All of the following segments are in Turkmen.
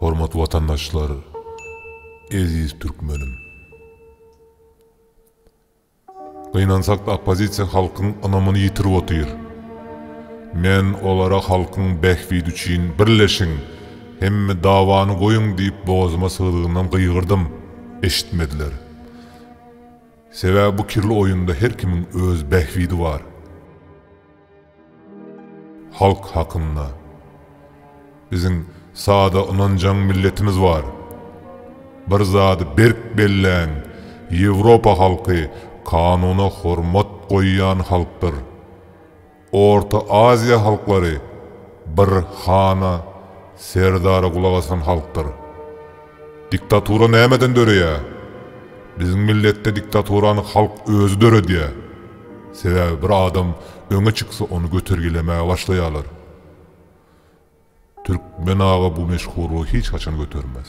Hormatly watandaşlar, eziz türkmenim! Gynansakda oppozisiýa halkyň ynamyny ýitirip otyr. Men olara halkyň bähbidi üçin birleşiň, hemme dawany goýuň diýip bogazyma sygdygyndan gygyrdym, eşitmediler. Sebäbi bu kirli oýunda her kimiň öz bähbidi bar. Halk hakynda. Biziň sada ynanjaň milletimiz bar. Bir zady berk belläň, Ýewropa halky kanuna hormat goýýan halkdyr. Orta Aziýa halklary bir hana, serdara gulak asan halkdyr. Diktatura nämeden döreýär? Biziň milletde diktaturany halk özi döredýär. Sebäbi bir adam öňe çyksa ony götergilemäge başlaýarlar. Türkmen aga bu meşhurlygy hiç haçan götermez.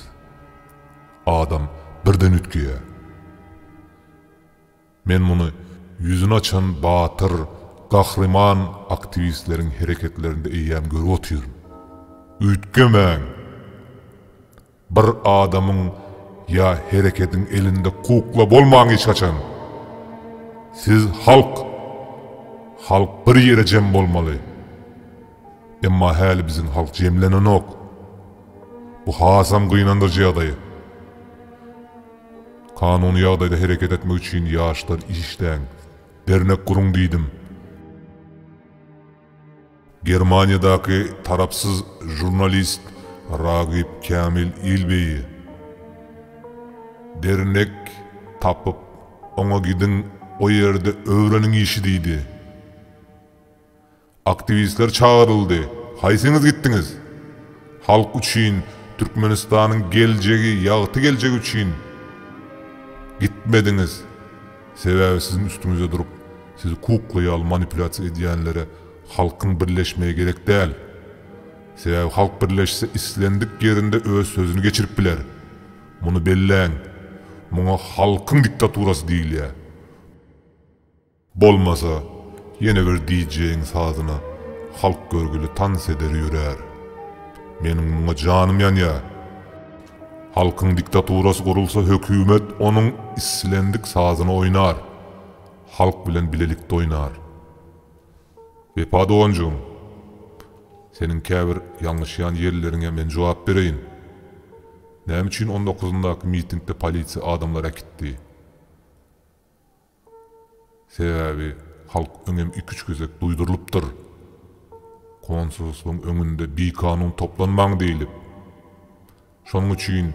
Adam birden üýtgeýär. Men muny ýüzüni açan batyr, gahryman aktiwistleriň hereketlerinde eýýäm görüp otyryn. Üýtgemäň! Bir adamyň ýa herekediň elinde kukla bolmaň hiç haçan. Siz halk. Halk bir ýere jem bolmaly. Emma häli biziň halk jemlenenok. Bu hasam gynandyryjy ýagdaý. Kanuny ýagdaýda hereket etmek üçin ýaşlar işläň, dernek guruň diýdim. Germaniýadaky tarapsyz žurnalist Ragip Kämil Ilbeýi dernek tapyp, oňa gidiň, o ýerde öwreniň işi diýdi. Aktiwistler çagyryldy, haýsyňyz gitdiňiz? Halk üçin, Türkmenistanyň geljegi, ýagty geljegi üçin gitmediňiz. Sebäbi siziň üstüňizde durup, sizi kuklaýaly manipulýasiýa edýänlere Halkyň birleşmegi gerek däl. Sebäbi halk birleşse islendik ýerinde öz sözüni geçirip biler. Muny belläň. Muňa halkyň diktaturasy diýilýär. Bolmasa, ýene bir DJ-iň sazyna halk görgüli tans eder ýörär. Meniň muňa janym ýanýar. Halkyň diktaturasy gurulsa hökümet onuň islendik sazyny oýnar. Halk bilen bilelikde oýnar. Wepa doganjygym, seniň käbir ýalňyşýan ýerleriňe men jogap bereýin. Näme üçin on dokuzyndaky mitingde polisiýa adamlar äkitdi? Sebäbi halk öňem iki-üç gezek duýdurylypdyr. Konsulstwyň öňünde bikanun toplanmaň diýlip. Şonuň üçin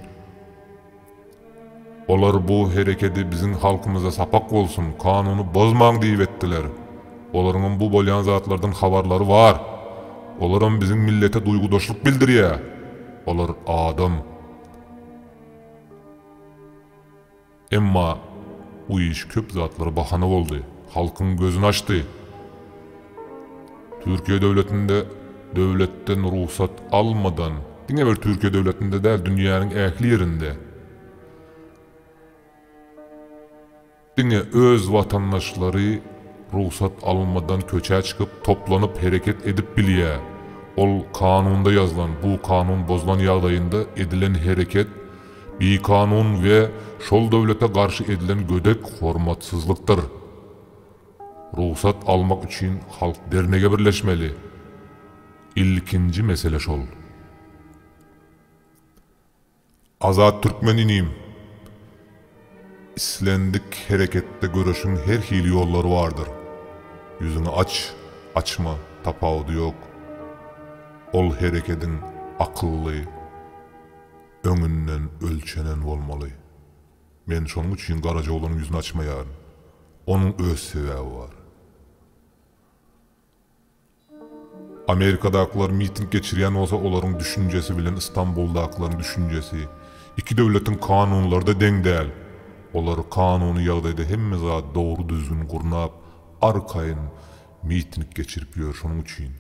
olar bu herekedi biziň halkymyza sapak bolsun, kanuny bozmaň diýip etdiler. Olaryňam bu bolýan zatlardan habarlary bar. Olaram biziň millete duýgudaşlyk bildirýä. Olar adam. Emma bu iş köp zatlara bahana boldy, halkyň gözüni açdy. Türkiýe döwletinde döwletden rugsat almadan, diňe bir Türkiýe döwletinde däl, dünýäniň ähli ýerinde diňe öz watandaşlary rugsat almadan köçä çykyp, toplanyp hereket edip bilýär. Ol kanunda ýazylan, bu kanun bozulan ýagdaýynda edilen hereket, bikanun we şol döwlete garşy edilen gödek hormatsyzlykdyr. Rugsat almak üçin halk dernege birleşmeli. Ilkinji mesele şol. Azat Türkmen inim! Islendik hereketde göreşiň her hili ýollary bardyr. Ýüzüňi aç, açma, tapawudy ýok. Ol herekediň akylly, Öňünden ölçenen bolmaly. Men şonuň üçin Garajaoglanyň ýüzüni açmaýaryn. Onuň öz sebäbi bar. Amerikadakylar miting geçirýän bolsa olaryň düşünjesi bilen Istanbuldakylaryň düşünjesi iki döwletiň kanunlary-da deň däl. Olar kanuny ýagdaýda hemme zady dogry düzgün gurnap arkaýyn miting geçirip ýör şonuň üçin.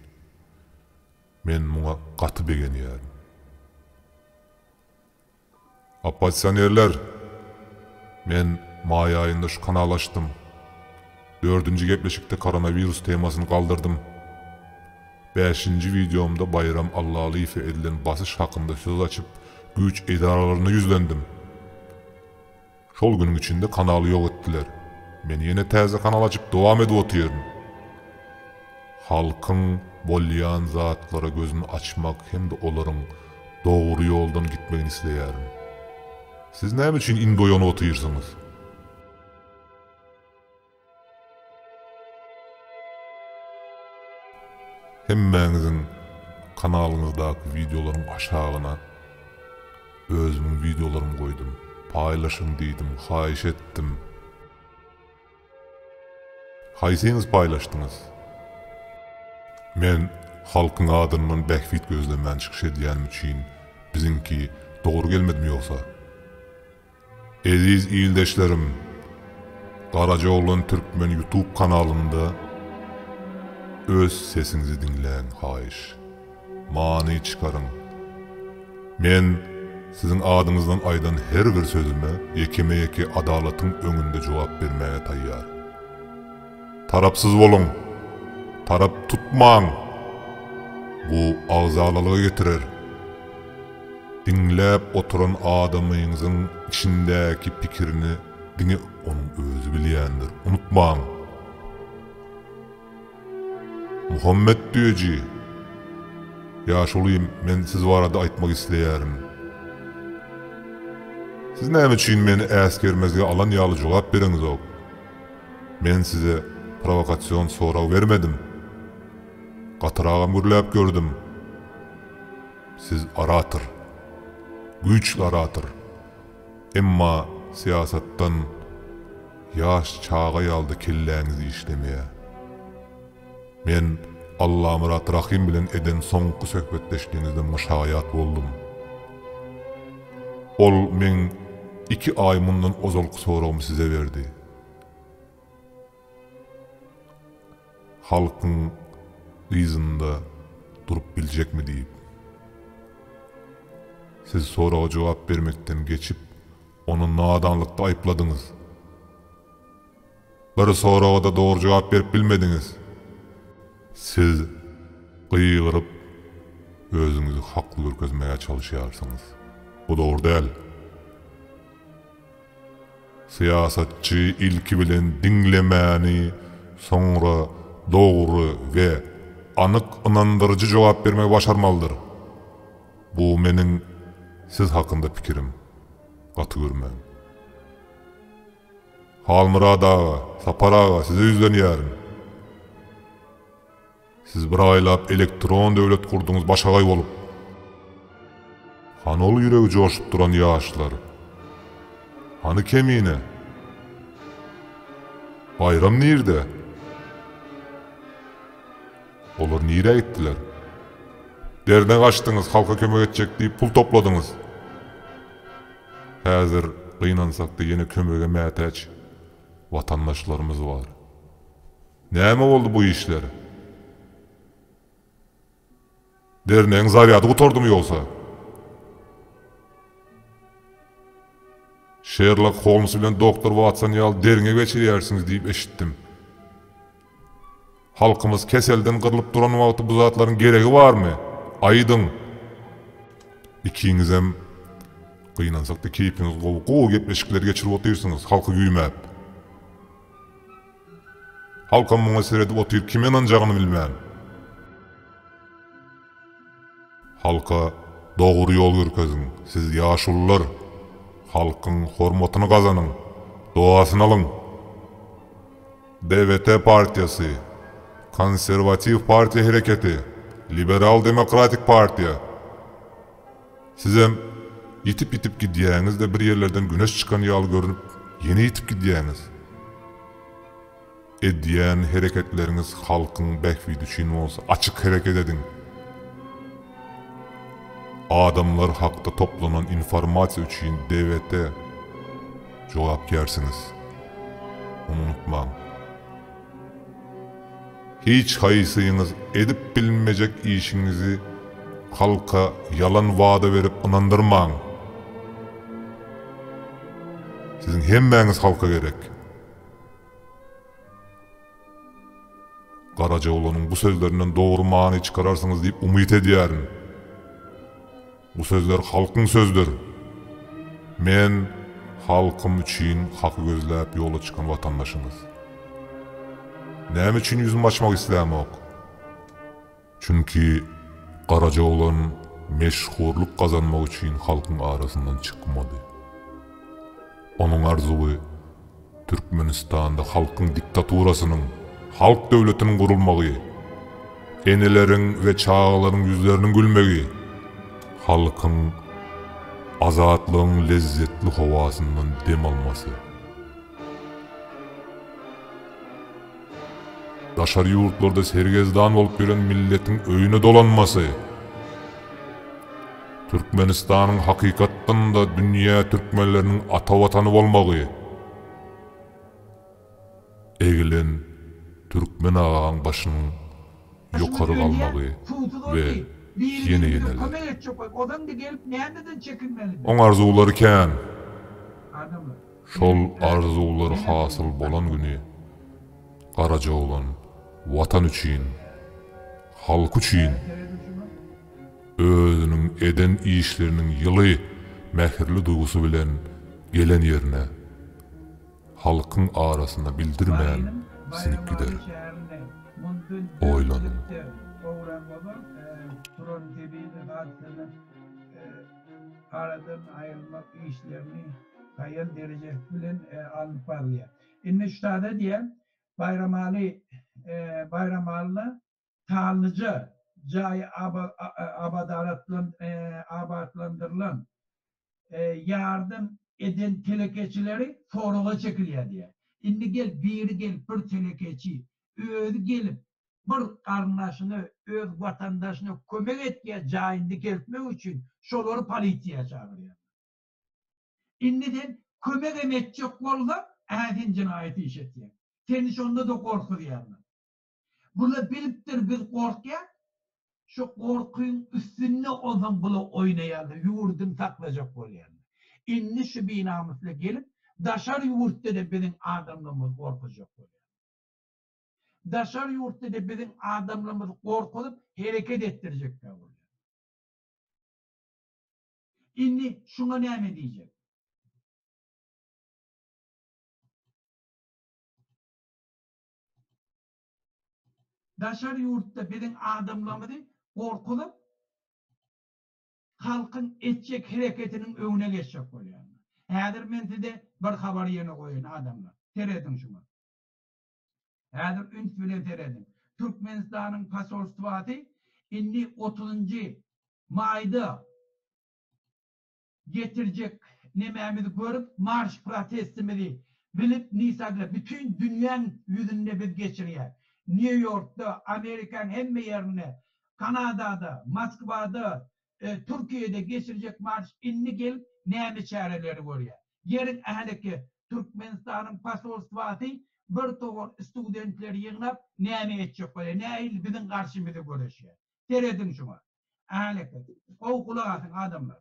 Men muňa gaty begenýärin. Oppozisionerler! Men maý aýynda şu kanaly açdym. Dördünji gepleşikde koronawirus temasyny galdyrdym. Bäşinji wideomda Baýram Allalyýewe edilen basyş hakynda söz açyp, güýç edaralaryna ýüzlendim. Şol günüň içinde kanaly ýok etdiler. Men ýene täze kanal açyp dowam edip otyryn. Halkyň bolýan zatlara gözüni açmak hem-de olaryň dogry ýoldan gitmegini isleýärin. Siz näme üçin indi oýanyp otyrsyňyz? Hemmäňiziň kanalyňyzdaky wideolaryň aşagyna özümiň wideolarymy goýdum. Paýlaşyň diýdim, haýyş etdim. Haýsyňyz paýlaşdyňyz? Men halkyň adyndan bähbit gözlemän çykyş edýänim üçin biziňki dogry gelmedimi ýogsa? Eziz ildeşlerim! Garajaoglan Türkmen Youtube kanalynda öz sesiňizi diňläň haýyş. Many çykaryň. Men siziň adyňyzdan aýdan her bir sözüme ýekeme-ýeke adalatyň öňünde jogap bermäge taýýar. Tarapsyz boluň! Tarap tutmaň! Bu agzalalyga getirer. Diňläp oturan adamyňyzyň içindäki pikirini diňe onuň özi bilýändir. Unutmaň! Muhammet Düýeji, Ýaşuly, men siz barada aýtmak isleýärin. Siz näme üçin meni äsgermezge alan ýaly jogap bereňzok? Men size prowokasion sorag bermedim. Gatyragam gürläp gördüm. Siz orator. Güýçli orator. Emma syýasatdan ýaş çaga ýaly-da kelläňiz işlemeýär. Men Allamyrat Rahym bilen eden soňky söhbetdeşligiňizden myşaýat boldum. Ol meň iki aý mundan ozalky soragymy size berdi. Halkyň yzynda durup biljekmi diýip. Siz soraga jogap bermekden geçip, ony nadanlykda aýypladyňyz. Bir soraga-da dogry jogap berip bilmediňiz. Siz gygyryp, özüňizi hakly görkezmäge çalyşýarsyňyz. Bu dogry däl. Syýasatçy ilki bilen diňlemäni, soňra dogry we anyk ynandyryjy jogap bermegi başarmalydyr. Bu meniň siz hakynda pikirim. Gaty görmäň. Halmyrat aga, Sapar aga size ýüzlenýärin. Siz bir aýlap elektron döwlet gurduňyz başagaý bolup. Hany ol ýüregi joşup duran ýaşlar? Hany Kemine? Baýram nirde? Olar nirä gitdiler? Derne gaçdyňyz, halka kömek etjek diýip pul topladyňyz. Häzir gynansak-da ýene kömege mätäç watandaşlarymyz bar. Näme boldy bu işler? Dernegiň zarýady gutardymy ýogsa? Şerlok Holms bilen doktor Watson ýaly derňe geçirýärsiňiz diýip eşitdim. Halkymyz keselden gyrlyp duran wagty bu zatlaryň geregi barmy? Aýdyň! Ikiňizem gynansakda keýpiňiz gowy, gowy gepleşikler geçirip otyrsyňyz, halky güýmäp. Halkam muňa seredip otyr, kime ynanjagyny bilmän. Halka dogry ýol görkeziň siz ýaşulylar halkyň hormatyny gazanyň dogasyny alyň DVT partiýasy konserwatiw partiýa hereketi liberal demokratik partiýa sizem ýitip ýitip gidýäňizde bir ýerlerden güneş çykan ýaly görünip ýene ýitip gidýäňiz. Edýän hereketleriňiz halkyň bähbidi üçin bolsa açyk hereket ediň. Adamlar hakda toplanan informasiýa üçin DWT jogapkärsiňiz. Muny unutmaň. Hiç haýsyňyz edip bilmejek işiňizi halka ýalan wada berip ynandyrmaň. Siziň hemmäňiz halka gerek. Garajaoglanyň bu sözlerinden dogry many çykararsyňyz diýip umyt edýärin. Bu sözler halkyň sözdür. Men halkym üçin haky gözläp ýola çykan watandaşyňyz. Näme üçin ýüzümi açmak islämok? Çünki garaja oglan meşhurlyk gazanmak üçin halkyň arasyndan çykmady. Onuň arzuwy Türkmenistanda halkyň diktaturasynyň, halk döwletiniň gurulmagy, eneleriň we çagalaryň ýüzleriniň gülmegi, halkyň azatlygyň lezzetli howasyndan dem almasy. Daşary ýurtlarda sergezdan bolup ýören milletiň öýüne dolanmasy, Türkmenistanyň hakykatdan-da dünýä türkmenleriniň ata watany bolmagy, egilen türkmen agaň başynyň ýokary galmagy we ýene-ýeneler. Oň arzuwlary kän. Şol arzuwlar hasyl bolan güni Garajoglan Watan üçin, halky üçin özüniň eden işleriniň ýyly mähirli duýgusy bilen gelen ýerine, halkyň arasyna bildirmän siňip gider. Oýlanyň. Aýal dereje bilen alnyp barylýar. Indi ştat edýär, Baýramaly Baýramalyna sanlyja jaý abatlandyrylan, ýardam eden telekeçileri soraga çekilýär diýýär. Indi gel, biri gelip bir telekeçi, özi gelip bir garyndaşyna, öz watandaşyna kömek etýär jaýyny dikeltmek üçin, şolary polisiýa çagyrýarlar. Indi sen kömegem etjek bolsaň, äsen jenaýat iş etýäň. Seni şonda-da gorkuzýarlar. Bula bilipdir biz gorkýas. Şu gorkyň üstünde onsoň bula oýnaýarlar, ýurduny saklajak bolýarlar. Indi şu binamyslar gelip, daşary ýurtda-da biziň adamlarymyzy gorkuzjak bolýarlar. Daşary ýurtda-da biziň adamlarymyzy gorkuzyp, hereket etdirjekler bolýarlar. Indi şuňa näme diýjek? Daşary ýurtda biziň adamlarymyzy gorkuzyp, halkyň etjek hereketiniň öňüne geçjek bolýarlar. Häzir men size bir habar ýene goýaýyn, adamlar. Serediň şuňa. Häzir üns bilen serediň. Türkmenistanyň posolstwasy indi otuzynjy maýda getirjek nemämizi görüp, marş protestimizi bilip, nisagla bütin dünýäň ýüzünde biz geçirýäs. Nýu-Ýorkda, Amerikanyň hemme ýerinde, Kanadada, Moskwada, Türkiýede geçirjek marş indi gelip näme çäreleri görýär. Geliň Äleke, Türkmenistanyň posolstwasy bir towar studentleri ýygnap, näme etjek bolýar, nähili biziň garşymyza göreşýär. Serediň şuňa. Äleke, gowy gulak asyň, adamlar.